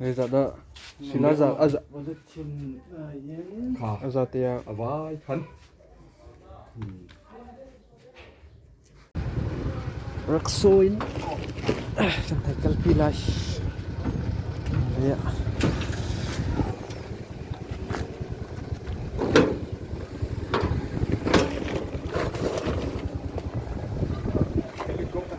Zeicahdah sinazah a za tiah a vai than? Rak saw in kan thei kalpi lai. Yeah. Helikopter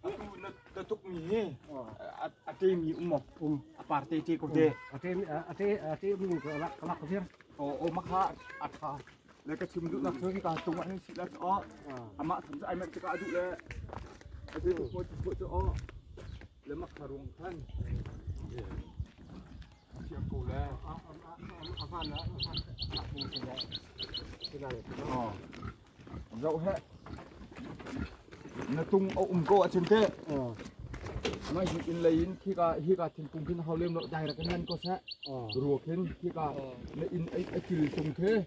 Atu na tukmi hi a temi um um a par te te ko de. A te a te a te um ka lak ka lak vir. O o makha a tha. Le ka chim duh nak chun ka tung an si la o. Ama tham sa ai man ka adu le. A te tu mo tu cho o. Le makha ruang khan. Zoh he. Na tung a um ko a chin te. Mai hin in lei in khi ka hi ka thing tung hin hau lem lo direct nan ko se. Ruo khin khi ka na in ai ai kil tung the.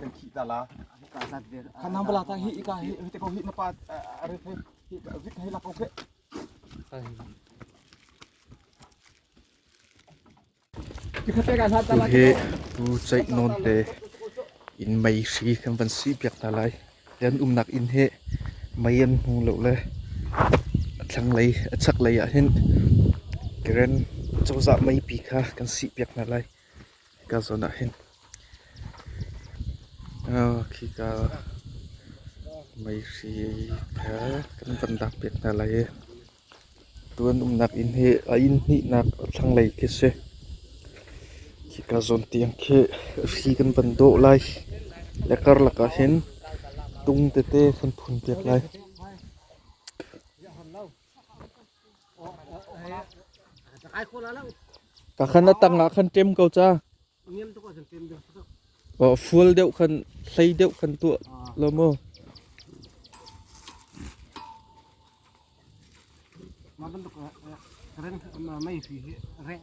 kan khih ta la khanang bala ta hi ika hi hi te ko hi na pa are the hi vit hi la ko khe tu hi pu chai non le in mei hri kan van si piak ta lai yan umnak inn he mei an hmu lo le thlang lei a chak lei ah hin karen cozah mei pi kha kan si piak hna lai ka zawn ah hin khika meihri thar kan van lak piak hna lai i tu an umnak inn hi a inn hnihnak thlanglei khi a si. Khika zawn tiang khi ri kan van dawh lai le karlak ah hin tung tete kan phun piak lai. Pakhan a tang ah khan ṭem ko ca. Fual deuh khan, hlei deuh khan tuah law maw. Mah bantuk reng mei fi hi reng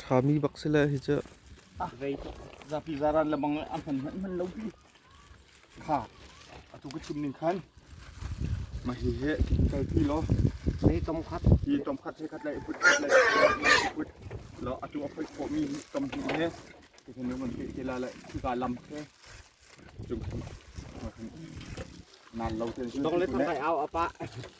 Ṭhami bak si le hi cu zapi zaran lebang a hman hmanhman lo hi kha atu ka chim ning khan ma hi he kal ti lo ni tom khat hi tom khat se khat le put khat le put lo atu a phoi khawh mi tom ti he ti khan ngon te te la le ka lam ke chung khan ngan lo ten dong le thang kai au apa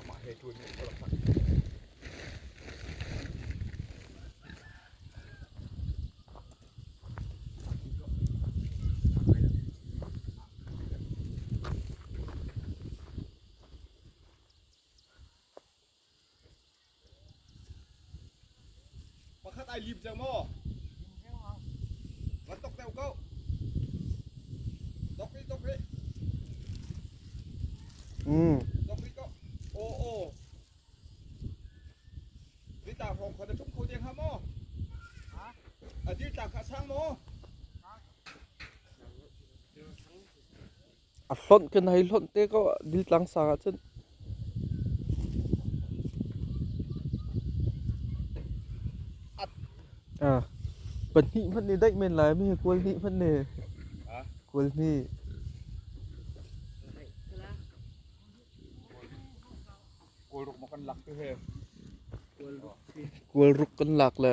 Amah he ṭuanmi a i palh taktak. Pakhat ai lim cang maw? Van tok deu ko. Tok hi, tok hi. Mm. Tok hi ko. O o. Ni ta hong khon tum kho deng ha maw? Ha? A dil ta kha sang maw? A hlonh kan hei hlonh te ko ah dil tlang sang ahcun. Ah, pahnih hmanh ne daih men lai mi he kual hnih hmanh ne. Kual hnih. Kual ruk kan lak le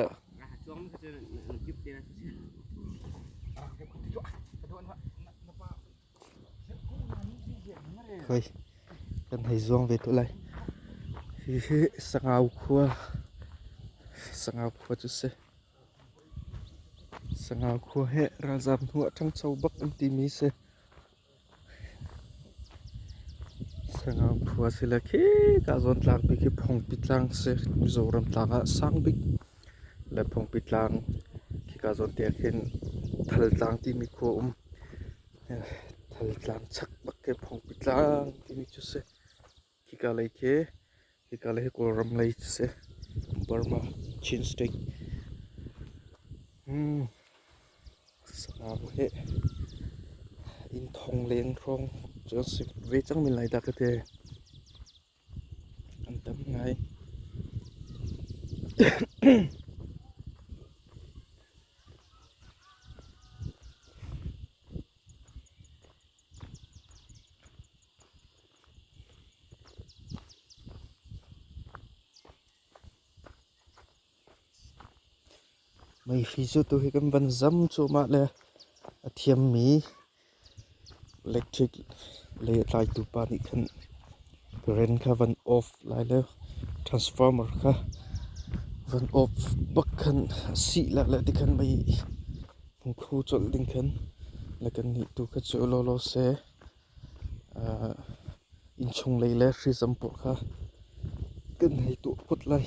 hoi kan hei zuang ve tu lai. Hihi Sangau khua Sangau khua cu si. Sangau khua he ralzam hnu a ṭhangcho bak an timi si. Sangau phu ah si le khika zawn tlang bik hi Phongpi tlang a si. Mizoram tlang ah sang bik le Phongpi tlang khika zawn te ah khin Thal tlang timi khua a um. Thal tlang chak bak hi Phongpi tlang timi cu a si. Hika lei khi, hika lei hi Kawlram lei a si. Burma, Chin State. Hmm. Sangau hi inn thong leng hrawng cu an si ve cang men lai dah ka ti. An tam ngai. Meihi cu tuhi kan van zam cuahmah le a thiammi electric lei a tlaitu pa nih khan current kha van off lai le transformer kha van off bak khan a sih lai le tikhan mei hmung khu cawlh ding khan le kannih tu kha cu lawlaw seh. Innchunglei le hrizam pawl kha kan hei tuah phot lai.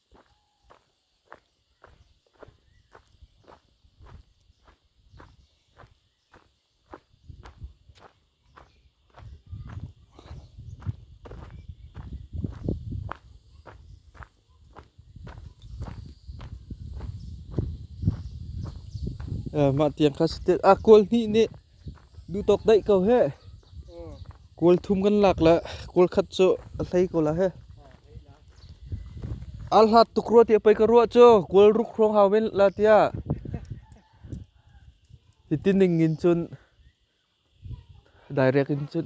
Mah tiang kha saṭil aa kawl hnih nih Duhtawk daih ko heh. Kawl thum kan lak le kawl khat cu a hlei ko la heh. Al hlat tuk rua tiah pei ka ruah cu kawl ruk hrawng hau men la tiah. Hitin ning in cun direct in cun.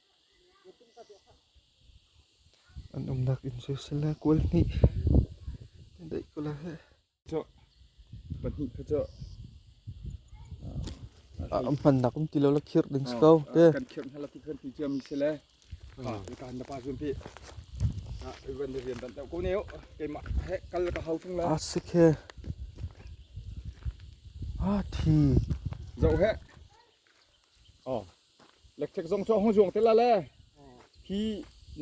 An umnak inn soisel le kual hnih an daih ko lai heh. Pahnih kha cu an hmannak um ti lo la khirh ding si ko te. Kan khirh hna la ti khan ti cia mi si le. Kan na pa zun pi. Na ivan na rian dan ko ne o. Keimah he kal ka hau chung la. A sik he. A thi. Zo he. Oh. lekthek zong cu hung zuang te la le hi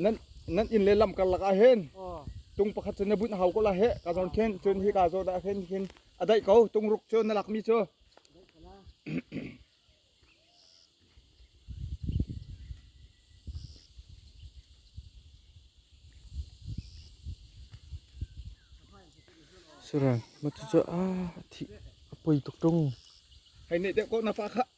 nan nan inn le lam karlak ah hin tung pakhat cu na bunh hau ko la he ka zawn khin cun hi ka zaw dah khin khin a daih ko tung ruk cu na lak mi cu suran matu cu a thi a poi tuk tung hei ne te ko na fa kha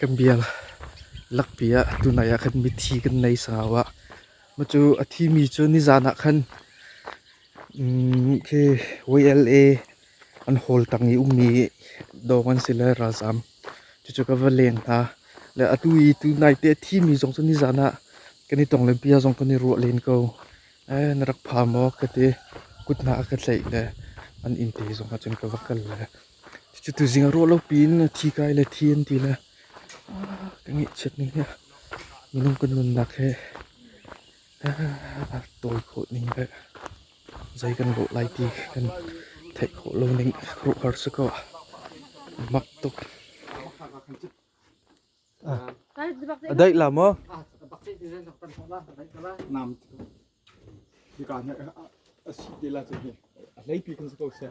Kan biang lakpi ah tunai ah khan mithi kan nei sangau ah. Mah cu a thi mi cu nizan ah khan, mm, khe YLA An hawltang i ummi dawng an si le ralzaam. Cucu ka va leng hna. Le atu i tunai te a thimi zong cu nizan ah kan i tong lenpi ah zong kan i ruah len ko. Na rak pha maw ka ti. Kut hna a ka tlaih le an innte zong ahcun ka va kal le. Cucu tuzing ah ruah lo piin thi kai le thi an ti le ka ngeihchiat ning hi minung kan nunnak hi a tawi khawh ning le. Zei kan lawh lai ti kan theih khawh lo ning ruahhar si kaw a mak tuk. A daih la maw? Nam hika a si te la cu hi a hlei pi kan si ko sia.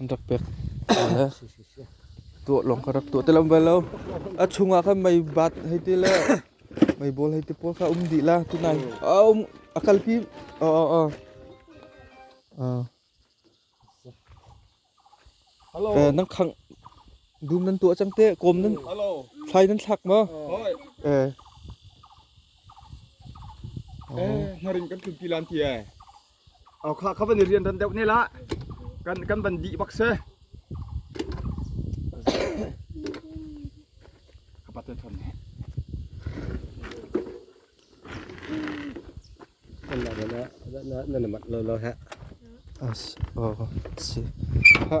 An rak pek le tuah lawng kha rak tuah ti lam bal lo. A chungah khan mei bat hei ti le mei bawl hei ti pawl kha um dih la tunai. A um a kalpi. Oh oh oh. Ah. Eh nan khang dum nan tuah cang te kom nan thlai nan thlak ma eh eh ngarin kan tlumpi lan ti eh Au kha kha van i rian ran deuh ne la. Kan kan van dih bak se. Ka pat thon ne. Ala na na na mat lo lo ha. As oh si. Ha.